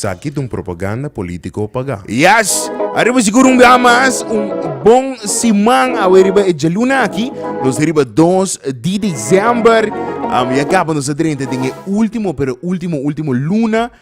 Esaki ta un propaganda politico pagá. Yes! Ariba sigur un bia mas un bon siman awe riba e djaluna aki. Nos ta riba dos di december. Am ya kaba nos ta drenta den e ultimo pero ultimo ultimo luna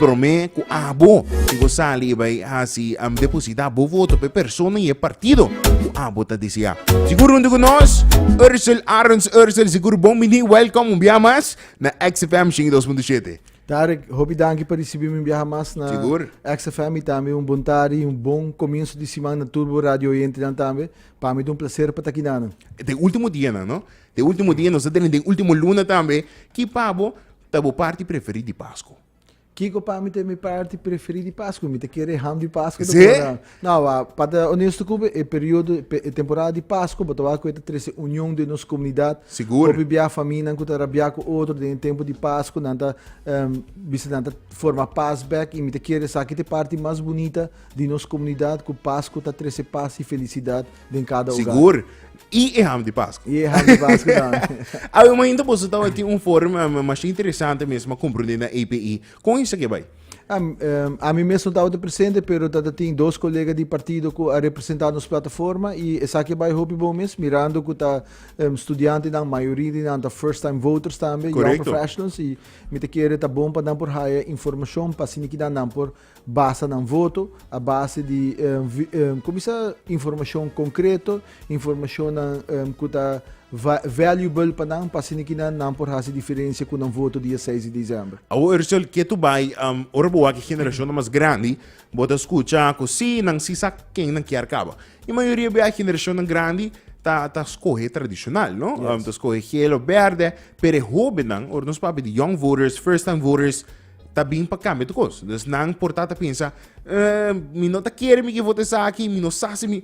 Prome ku abo si bo sali i bai hasi deposita bo voto pa e persona i e partido ku abo ta deseá. Sigur huntu ku nos Ursel Arons Ursel sigur bon bini welkom un biaha mas na XFM 102.7. Tarek hopi danki pa risibi mi un biaha mas na sigur. XFM i tambe un bon tardi i un bon komienso di siman na tur bo radio oyentenan tambe pa mi ta un plaser pa ta aki nan. Den ultimo dianan no den ultimo dia nos ta den den ultimo luna tambe ki pa bo Ta bo parti preferí di Pasku? Kiko pa mi ta mi parti preferí di Pasku? Mi ta kere ham di Pasku ta bon nan. No, a pa ta onesto ku bo, e periodo, e temporada di Pasku bo ta wak ku e ta trese union den nos komunidat. Sigur. Hopi bia faminan ku ta rabia ku otro den e tempu di Pasku nan ta bisa nan ta forma pas bèk i mi ta kere esaki ta e parti mas bunita di nos komunidat ku Pasku ta trese pas i felisidat Den kada ogar. Sigur. I e ham di Pasko. I e ham di Pasko tambe. a wi mainta boso tabati un forum uh, eh, mas interesante mesmo comprende na API. Kon isa ke bai? Um, um, a mi mesmo tabati presente, pero tata tin dos colega di partido ku a representa nos plataforma i esa ke bai hopi bon mes mirando ku ta um, studiante dan mayoria di nan ta first time voters tambe, young professionals i mi te kere ta bon pa dan por haya informacion pa siniki dan nan por Basa nan voto a base di kumisa informashon konkreto, informashonnan ku ta valuable pa nan pa asina kinan nan por hasi diferensia ku nan voto dia seis di desèmber. Awo Ursel, ke tu bai? Ora bo wak e generashonnan mas grandi, bo ta skucha ku sí, nan sí sa ken nan kier kaba. I mayoria bia e generashonnan grandi ta ta skohe tradishonal, no? Ta skohe hel òf bèrdè. Pero e hóbennan, ora nos papia di young voters, first time voters, ta bin pa cambia tu cos. Dus nan por ta pensa, eh, mi no ta quiere mi ki vota esaki, mi no sa si mi...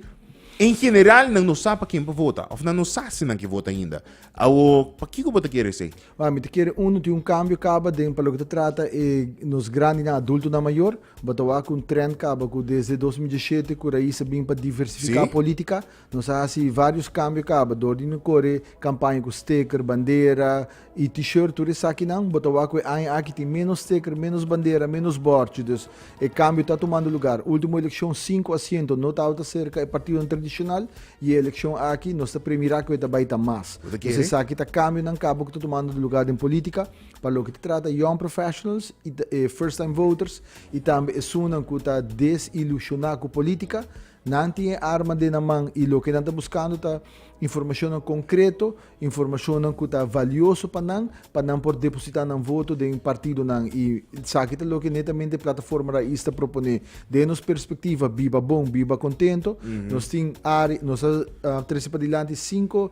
En general, nan no sa pa ken pa vota, of nan no sa si nan ki vota ainda. Awo, pa kiko bo ta quiere sei? Wa, mi ta quiere uno tin un cambio caba den pa lo ki ta trata e nos grandinan, adultonan mayor. Bo ta wak un trend caba cu desde 2017 cu Raíz a bin pa diversifica Sí. politica, Nos a hasi vários kambio kaba dor di no kore kampaña ku steker, bandera i T-shirt, tur esakinan. Bo ta wak ku e aña aki tin ménos steker, ménos bandera, ménos bòrchi. Dus e kambio ta tumando lugar. Último elekshon sinku asiento no tabata serka e partidonan tradishonal i e elekshon aki nos ta premirá ku e ta bai ta mas. Dus esaki ta kambionan kaba ku ta tumando lugar den polítika pa loke ta trata young professionals i first time voters i tambe esunnan ku ta desilushoná ku polítika. Nan tin e arma den nan man i loke nan ta buskando ta informashonnan konkreto, informashonnan ku ta valioso pa nan, pa nan por depositá nan voto den partidonan. I esaki ta loke netamente Plataforma Raiz ta proponé. Den nos perspektiva Biba Bon, Biba Kontento, nos tin área, nos a trese padilanti sinku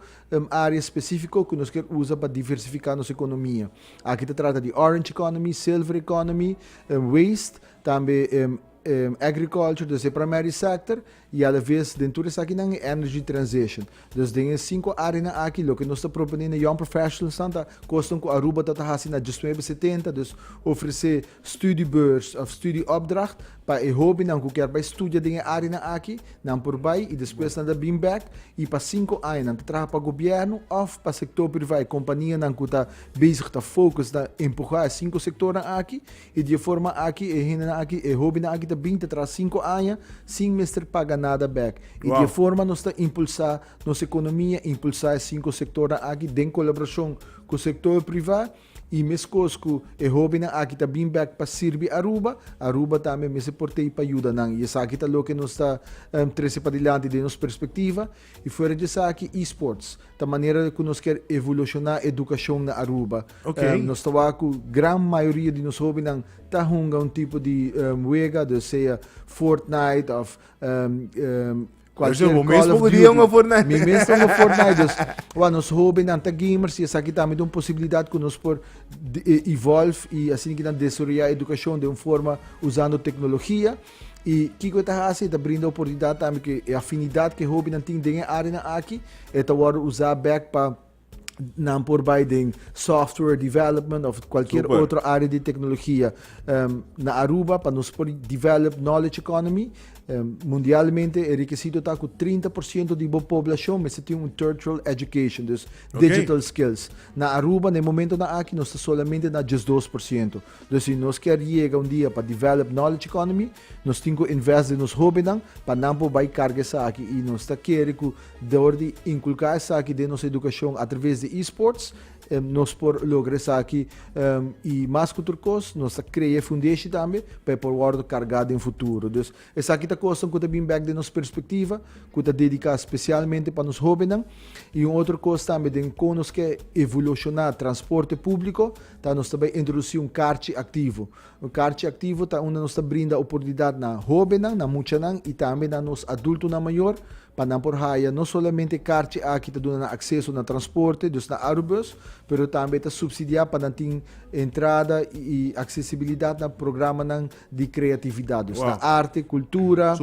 área spesífiko ku nos kier usa pa diversifiká nos ekonomia. Aki ta trata di orange economy, silver economy, waste, tambe. Agriculture desde e primary sector y a la vez den tur esakinan y energy transition. Dus den e cinco areanan aki loke nos ta propone na young professionalsnan ta cosnan cu Aruba ta ta haci na diesnuebe setenta, dus ofrece studiebeurs of studieopdracht pa e hobennan cu kier bay studia den e areanan aki, nan por bay y despues nan ta bin bek y pa cinco aña nan ta traha pa gobierno of pa sector priva, e companianan cu ta bezig ta focus na empuha e cinco sectornan aki I di e forma aki e hendenan aki, e hóbennan aki ta bin ta traha sinku aña sin mester paga nada bèk. I di e forma nos ta impulsá nos ekonomia, impulsá e sinku sektornan aki den kolaborashon ku sektor privá i meskos ku e hóbennan aki ta bin bèk pa sirbi Aruba, Aruba tambe mester por t'ei pa yuda nan. I esaki ta loke nos ta trese padilanti den nos perspektiva. I fuera di esaki eSports ta manera ku nos kier evolushona edukashon na Aruba. Okay. Nos ta wak ku gran mayoria di nos hobennan ta hunga un tipo di wega, dus sea Fortnite of kualkier Call of Duty. Mi mes poko dia hunga Fortnite. Mi mes ta hunga Fortnite, dus wa nos hobennan ta gamers i esaki tambe ta un posibilidat ku nos por evolve i asina kinan desaroya edukashon den un forma usando teknologia. I kiko e ta hasi? E ta brinda oportunidat tambe ku e afinidat ku e hobennan tin den e áreanan akí, e ta wòrdu usá bèk pa nan por bai den software development òf kualkier Super. otro área di teknologia em, na Aruba pa nos por develop knowledge economy. Em, mundialmente e rekisito ta ku trinta por siento di bo poblashon mester tin un tertial education, dus Oké. digital skills. Na Aruba na e momentonan akí nos ta solamente na diesdos por siento. Los si nos kier yega un dia pa develop knowledge economy nos tin cu invest den nos hobennan pa nan por bay carga esaki y nos ta kere cu dor di inculca esaki den nos educacion atraves di esports nos por logra esaki y mas cu tur cos nos ta crea e fundeshi tambe pa e por wordo carga den futuro. Dus esaki ta cosnan cu ta bin bek den nos perspectiva cu ta dedica specialmente pa nos hobennan y un otro cos tambe den con nos ke evoluciona transporte publico ta nos ta bai introduci un karchi aktivo. Un karchi aktivo ta unda nos ta brinda oportunidat na hobennan, na muchanan i tambe na nos adultonan mayor pa nan por haya no solamente karchi aki ta duna nan akseso na transporte, dus na Arubus, pero tambe ta supsidiá pa nan tin entrada i aksesibilidat na programanan di kreatividat, dus na arte, kultura,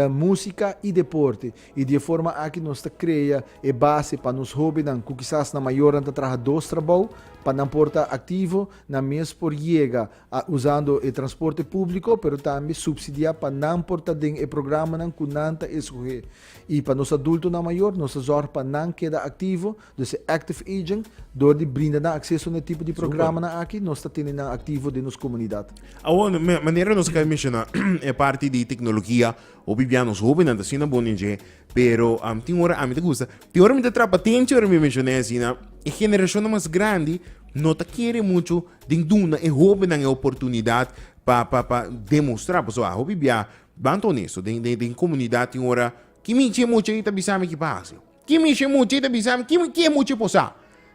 músika i deporte. I di e forma aki nos ta krea e base pa nos hóbennan ku kisas nan mayornan ta traha dos trabou pa nan por ta aktivo, nan mes por yega a usando e transporte públiko pero tambe supsidiá pa nan por ta den e programanan ku nan ta eskohé. I pa nos adultonan mayor nos ta zòrg pa nan keda aktivo, dus e active aging, dor di brinda nan akseso na e tipo di programanan aki nos ta tene nan aktivo den nos komunidat. Awor, manera nos a kai menshoná e parti di teknologia. Hopi bia nos hobennan ta asina boni dje, pero tin ora ami ta gusta, tin ora mi ta trapa atenti ora mi mencion'é asina, e generashonnan mas grandi no ta kere muchu den duna e hobennan e oportunidat pa pa pa demostrá, pasobra hopi bia banta honesto den den den komunidat tin ora ki mi dje mochi ei ta bisami ki pasa. Ki mishi mucha y ta bisa mi ki e mucha por sa.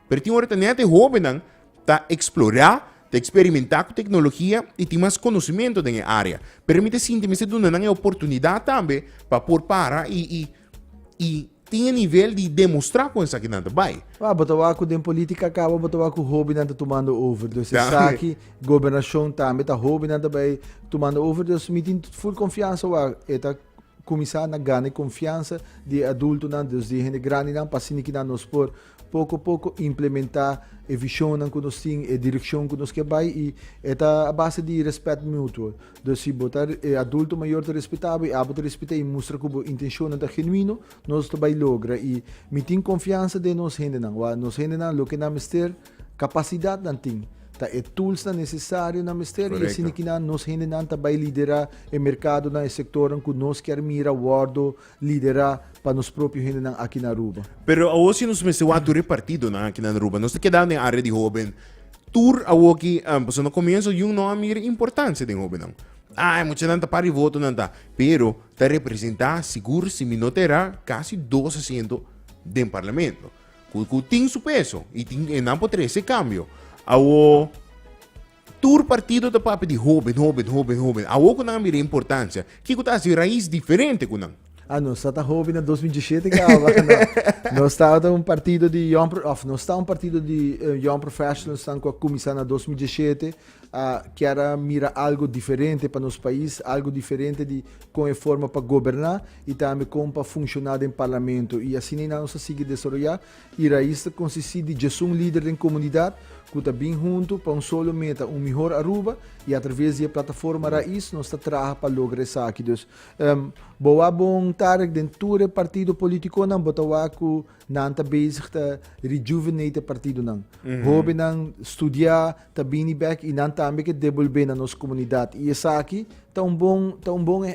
Pero tin ora ta net e hobennan ta explora, ta experimenta cu tecnologia y tin mas conocimento den e area. Pero mi ta sinti mester duna nan e oportunidad tambe pa por para y tin e nivel di demostra con esaki nan ta bay. Waw, bo ta wak cu den politica cabo bo ta wak cu hobennan ta tumando over. Dus esaki gobernacion tambe ta hobennan ta bay tumando over. Dus mi tin full confiansa wak e ta. Kuminsá na gana e konfiansa di e adultunan dus di e hende grandinan pa asina ki nan nos por poko poko implementá e vishonnan ku nos tin, e direkshon ku nos ke bai i e ta a base di rèspèt mutuo. Dus si bo ta e adulto mayor ta respetá bo i abo ta respet'é i mustra ku bo intenshonnan ta genuino, nos ta bai logra i mi tin konfiansa den nos hendenan. Wak nos hendenan loke nan mester. Capacidadnan tin, ta e toolsnan necesario nan mester y asina ki nan, nos hendenan ta bay lidera e mercadonan, e sectornan cu nos kier mira wordo lidera pa nos propio hendenan aki na Aruba. Pero awo si nos mester wak tur e partidonan aki na Aruba, nos ta keda den area di hoben tur awo ki, pasobra na comienso jun no a mira importancia den hobennan. Ah, e muchanan ta para di votonan ta, pero ta representa sigur si mi no ta era casi dos asiento den parlamento. cu, cu tin su peso y tin, e nan por trae ese cambio. Awo, tur partido ta papia di hoben, hoben, hoben, hoben. Awo cu nan a mira e importancia, kico ta haci Raiz diferente cu nan? Ah, nos tabata hoben na dos mil dieshiete caba? No. Nos tabata un partido di young, of nos ta un partido di eh, young professionals nan cu a cuminsa na dos mil dieshiete. A kier a mira algu diferente pa nos pais, algu diferente di kon e forma pa goberná i tambe kon pa funshoná den parlamento. I asina i nan nos a sigui desaroyá. E rais ta konsistí di djesun lider den komunidat ku ta bin huntu pa un solo meta, un mihor Aruba, i atraves di e plataforma Rais nos ta traha pa logra esaki. Dus, bo a bon tarek den tur e partido politikonan, bo ta wak ku Nan ta bezig ta rejuvenate e partidonan. Hobennan studia, ta bini bek i nan tambe ke debolbe na nos komunidat. I esaki ta un bon, ta un bon,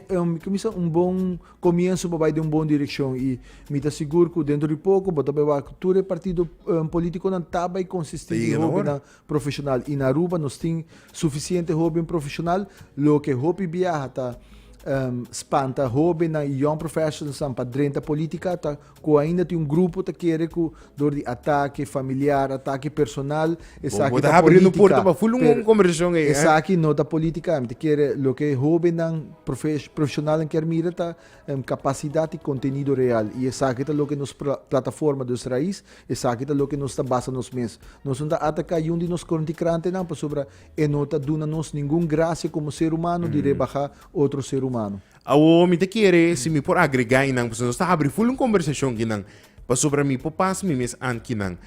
kumisa, un bon komienso pa bai den un bon direkshon. I mi ta sigur ku dentro di poko bo ta bai wak ku tur e partido politikonan ta bai konsisti di hobennan profeshonal. I na Aruba nos tin sufisiente hoben profeshonal. Loke hopi biaha ta spanta hobennan i young professionals pa drenta politika ta Cu ainda tin un grupo ta kere cu dor di atake familiar, atake personal, esaki ta politica, pero esaki no ta politica. Mi ta kere loke e hobennan, profesionalnan kier mira ta capacidad y contenido real. Y esaki ta loke nos plataforma dos raiz, esaki ta loke nos ta basa nos mes. Nos no ta ataca yun di nos conticrantenan pasobra e no ta duna nos ningun gracia como ser humano di rebaha otro ser humano. Awor mi ta kere si mi por agregá einan pasobra nos ta habri full un kombersashon kinan pasobra mi por pasa mi mes ant kinan.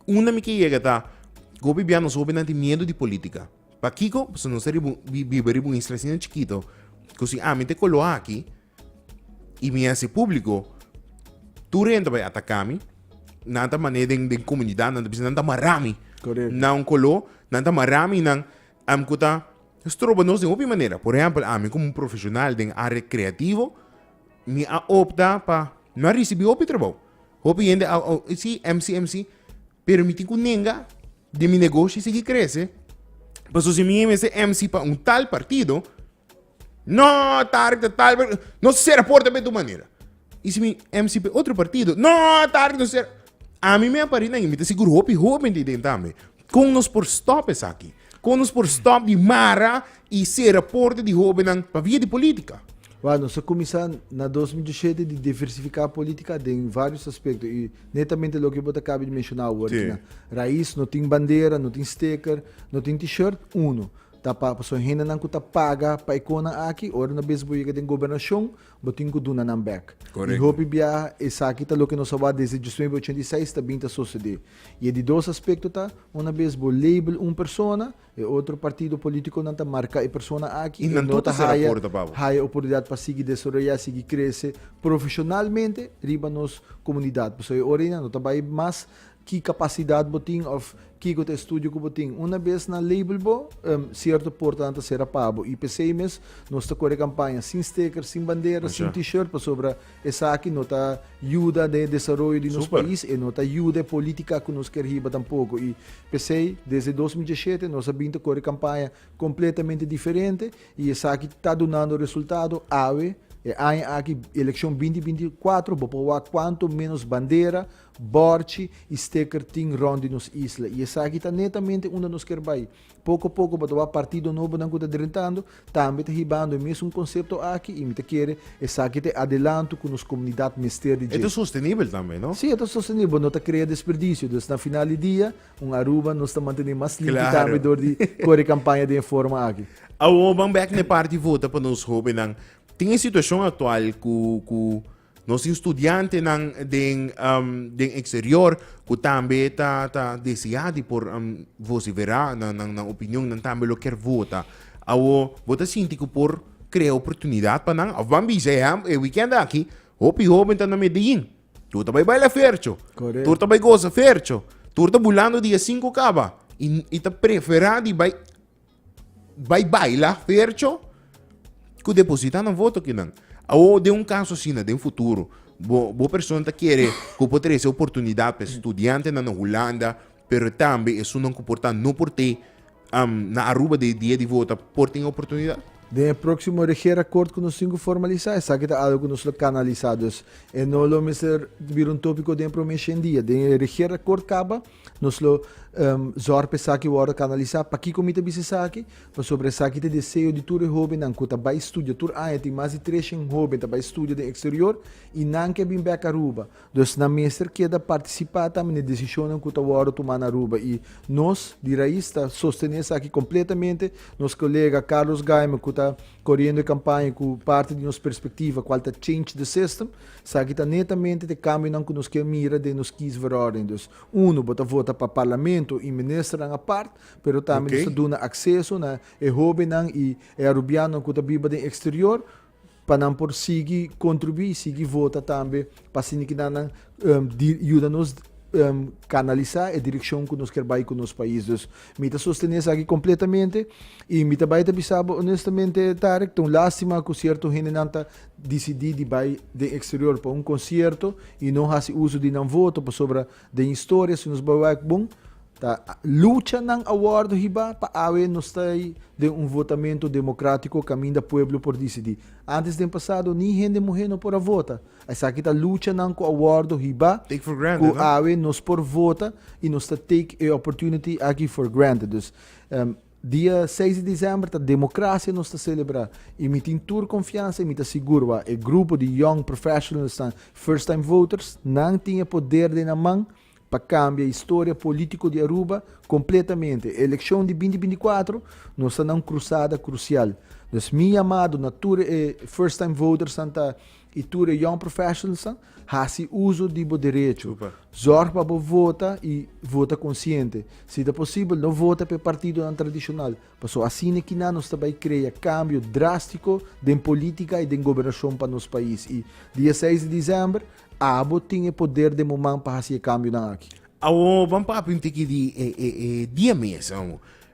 Unda mi ke yega ta hopi bia nos hopinan tin miedu di polítika. Pakiko? Pasobra nos ta riba un biba riba un isla asina chikito ku si ami ta koloha aki i mi hasi públiko tur hende ta bai ataká mi. Nan ta manera den komunidatnan ta bisa nan ta mará mi na un koló, nan ta mará mi nan. Am ku ta stroba nos den hopi manera. Por ehèmpel, ami komo un profeshonal den área kreativo, mi a opta pa no a risibí hopi trabou. Hopi hende a si mc, mc, pero mi tin ku nenga den mi negoshi sigui krese, pasobra si mi mester mc pa un tal partido, No, Tarek ta tal, no sera por tabe tu manera. Y si mi MCP otro partido, no, Tarek no sera. A mi me pari nan, mi ta sigur hopi hopi di den tambe. Kon nos por stop esaki? Kon nos por stop di mara y sera porta di hobennan pa via di politica? Wak, nos a cuminsa na dos mil diesisiete di diversifica politica den varios aspecto y netamente loke bo ta caba di menciona awo, raiz, no tin bandera, no tin steker, no tin t-shirt, uno. Ta pa pasobra hendenan ku ta paga pa e konan aki, ora no bisa bo yega den gobernashon, bo tin ku duna nan bèk. I hopi biaha esaki ta loke nos a wak desde djisnuebe ochenta i seis ta bin ta sosodé. I e di dos aspekto ta, una bes bo label un persona, e otro partido polítikonan ta marká e persona aki i no ta haya haya oportunidat pa sigui desaroyá, sigui krese profeshonalmente riba nos komunidat. Pasobra e ora ei nan no ta bai mas Ki kapasidat bo tin òf kiko ta e studio ku bo tin. Una bes nan label bo, sierto portanan ta sera pa bo. I p'esei mes nos ta kore e kampaña sin steker, sin bandera, sin T-shirt, pasobra esaki no ta yuda den e desaroyo di nos pais, e no ta yuda e polítika ku nos kier hiba tampoko. I p'esei desde dos mil diesshete nos a bin ta kore kampaña kompletamente diferente i esaki ta dunando resultado. Awe, e aña aki, elekshon binti binti i kuatro, bo por wak kuantu ménos bandera Bòrchi i steker tin rònt di nos isla i esaki ta netamente unda nos ker bai. Poko poko bo ta wak partido nobonan ku ta drentando, tambe ta hibando e mesun konsepto aki i mi ta kere esaki ta e adelanto ku nos komunidat mester di E ta dje. sostenibel tambe, no? Sí, e ta sostenibel. Bo no ta krea desperdisio. Dus na final di dia, un Aruba nos ta mantené mas limpi tambe Klaro. dor di kore kampaña den e forma aki. Awor ban bèk na e parti vota pa nos hóbennan. Tin e situashon aktual ku ku Nos tin studiantenan den eksterior ku tambe ta ta desiá di por vosiferá nan opinion, nan tambe lo ker vota. Awo bo ta sinti ku por krea oportunidat pa nan? Of ban bisa, ehèmpel, e wikènt aki hopi hóben ta na Medelin, tur ta bai baila fercho, tur ta bai goza fercho, tur ta bulando di a sinku kaba i ta preferá di bai Bai baila fercho ku deposita nan voto kinan. Awo den un kaso asina den futuro, bo, bo persona ta kere ku por trese oportunidat pa e studiantenan na Hulanda, pero tambe esunnan ku por ta no por te am, na Aruba den e dia di vota por tin oportunidat? Den e próksimo regeerakòrt ku nos tin ku formalisá, esaki ta algu ku nos lo kanalisá. Dus e no lo mester bira un tópiko den e promé shen dia. Den e regeerakòrt kaba, Nos lo um zorg pa esaki wordo canalisa. Pakico mi ta bisa esaki? Pasobra esaki ta e deseo di tur e hobennan cu ta bay studia. Tur aña tin mas di treshen hoben ta bay studia den exterior y nan ke bin bek Aruba. Dus nan mester keda participa tambe n'e decisionnan cu ta wordo tuma na Aruba. Y nos di Raiz ta sostene esaki completamente. Nos colega Carlos Gaiman cu ta coriendo e campaña cu parti di nos perspectiva cual ta Change the System. Sa aki ta netamente t'e kambionan ku nos ke mira den nos kiesverordening. Dus, unu, bo ta vota pa parlamento i ministernan apart, pero tambe nos ta duna akseso na e hóbennan i e arubianonan ku ta biba den eksterior pa nan por sigui kontribuí i sigui vota tambe pa asina keda nan yuda nos kanalisá e direkshon ku nos kier bai ku nos pais. Dus, mi ta sostené esaki kompletamente i mi ta bai ta bisa bo onestamente, Tarek, ta un lástima ku sierto hendenan ta. disidí di bai den eksterior pa un konsierto i no hasi uso di nan voto pasobra den historia si nos bai wak bon ta luchanan a wòrdu hibá pa awe nos ta ei den un votamentu demokratiko kaminda pueblo por disidí. Antes den pasado ni hende muhé no por a vota. Esaki ta luchanan ku a wòrdu hibá ku awe nos por vota i nos ta take e opportunity aki for granted. Dus. Dia seis di disember ta Democracia nos ta celebra y mi tin tur confiansa y mi ta sigur ba e grupo di young professionals nan first time voters nan tin e poder den nan man pa cambia historia politico di Aruba completamente. E eleccion di binti binti cuatro nos ta na un crusada crucial dus mi yamado na tur e first time voters nan ta y tur e young professionals nan Hasi uso di bo derecho. Zorg pa bo vota i vota konsiente. Si ta posibel, no vota pa e partidonan tradishonal, pasobra asina e kina nos ta bai krea kambio drástiko den polítika i den gobernashon pa nos pais. I diaseis di desèmber, abo tin e poder den bo man pa hasi e kambionan aki. Awor, ban papia un tiki di e diames.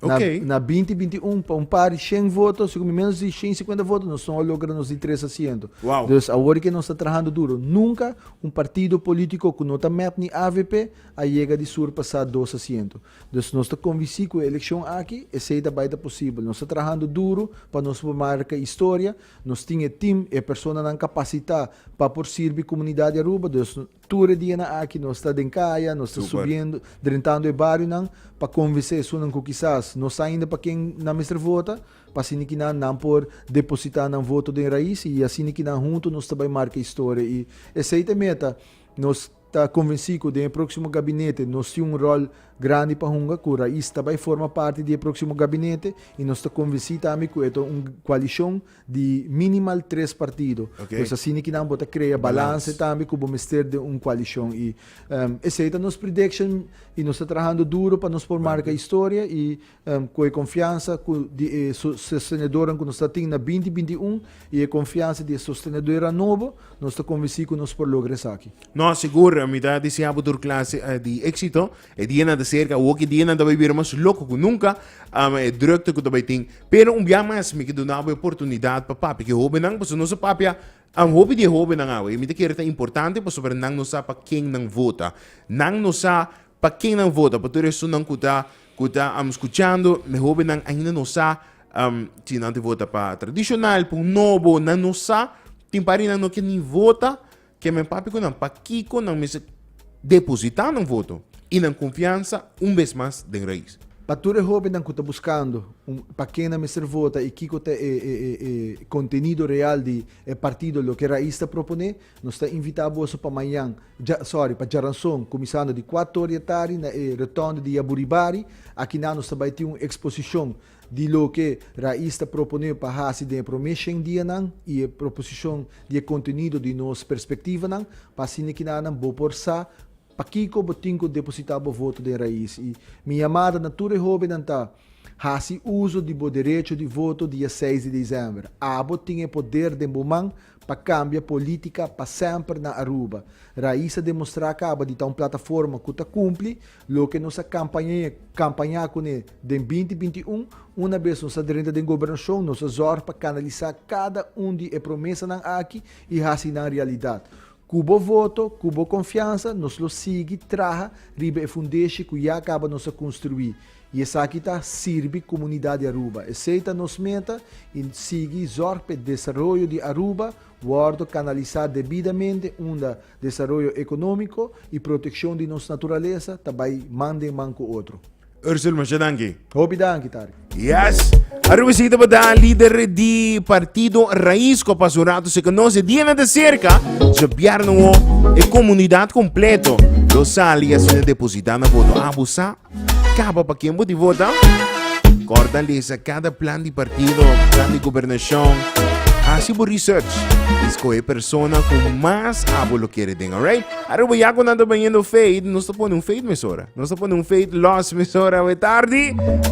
Na, Ok. na 2021, pa un par di 100 voto, si kumi menos di 150 voto, nos no a logra nos di tres asiento. Wow. Dus awor ke nos ta trahando duro. Nunca un partido politico cu no ta met ni avp a yega di sur pa sa dos asiento. Dus nos ta convinci cu e eleccion aki esey ta bay ta posibel. Nos ta trahando duro pa nos por marca historia. Nos tin e team, e personanan capacita pa por sirbi comunidad di Aruba. Dus Tur e dianan aki nos ta den kaya, nos ta subiendo, drentando e barionan pa convensa esunnan cu kisas no sa ainda pa ken nan mester vota, pa asina ki nan, nan por deposita nan voto den rais y asina ki nan hunto nos ta bay marca historia y esey ta e meta. Nos ta convenci cu den e proximo gabinete nos tin un rol grandi pa hunga, cu rais ta bay forma parti di e proximo gabinete y nos ta convenci tambe cu e ta un coalicion. di minimal tres partido okay. pues asina ki nan bo ta crea balance tambe ku bo mester de un coalition y um, esei ta nos prediction y nos ta trabajando duro pa nos por marca historia y um, ku e confianza ku di e sostenedoran ku nos ta tin na 2021 y e confianza di e sostenedora nobo nos ta convenci ku nos por logra esaki. No, seguro, mi ta deseabo tur clase uh, di éxito E dianan ta serka, awor ku e dianan ta bai bira mas loko ku nunka, am, e drukte ku ta bai tin. Pero un bia mas mi ke duna bo e oportunidat pa papia ku e hobennan, pasobra nos a papia, am, hopi di e hobennan awe i mi ta kere ta importante pasobra nan no sa pa ken nan vota. Nan no sa pa ken nan vota. Pa tur esonnan ku ta, ku ta, am, skuchando, mi hobennan ainda no sa, am, si nan ta vota pa tradishonal, pa un nobo, nan no sa. Tin par di nan no ke ni vota. Ke men papia ku nan pakiko nan mester depositá nan voto i nan konfiansa un bes mas den Rais. Pa tur e hóbennan ku ta buskando un pa ken nan mester vota i kiko ta e e kontenido real di e partido loke Rais ta proponé, nos ta invitá boso pa mañan, dja, sòri, pa djaranson, kuminsando di kuator'e tardi na e Rotonde di Yaburibari. Akinan nos ta bai tin un eksposishon di loke Raiz ta proponé pa hasi den e promé shen dianan i e proposishon di e kontenido di nos perspektivanan, pa asina ki nan bo por sa pakiko bo tin ku depositá bo voto den Raiz. I mi yamada na tur e hóbennan ta, Hasi uso di bo derecho di voto dia seis di desèmber. Abo tin e poder den bo man. pa cambia politica pa semper na Aruba. Raiz a demostra caba di ta un plataforma cu ta cumpli loke nos a campaña cune den binti binti un. Una bes nos a drenta den gobernacion nos a zorg pa canalisa cada un di e promesanan aki y haci nan realidad. Cu bo voto, cu bo confiansa nos lo sigui traha riba e fundeshi cu ya caba nos a construi. I esaki ta sirbi komunidat di Aruba. Esei ta nos meta i sigui zòrg pa e desaroyo di Aruba wòrdu kanalisá debidamente unda desaroyo ekonómiko i protekshon di nos naturalesa ta bai man den man ku otro. Ursule, masha danki. Hopi danki, Tariq. Yes! Aruba esei tabata lider di partido Raiz ku a pasa un ratu sin konos e dianan ta serka. Djabièrnua e komunidat kompleto lo sali i asina depositá nan voto. A abusá! Kaba pa ken bo di vota? Corta lesa cada plan di partido, plan di gobernacion. Haci bo research. Escoge persona cu mas abo lo quiere den, alright? Aruba ya con tanto bañando fade, no se pone un fade mesora. No se pone un fade loss mesora, we tardi.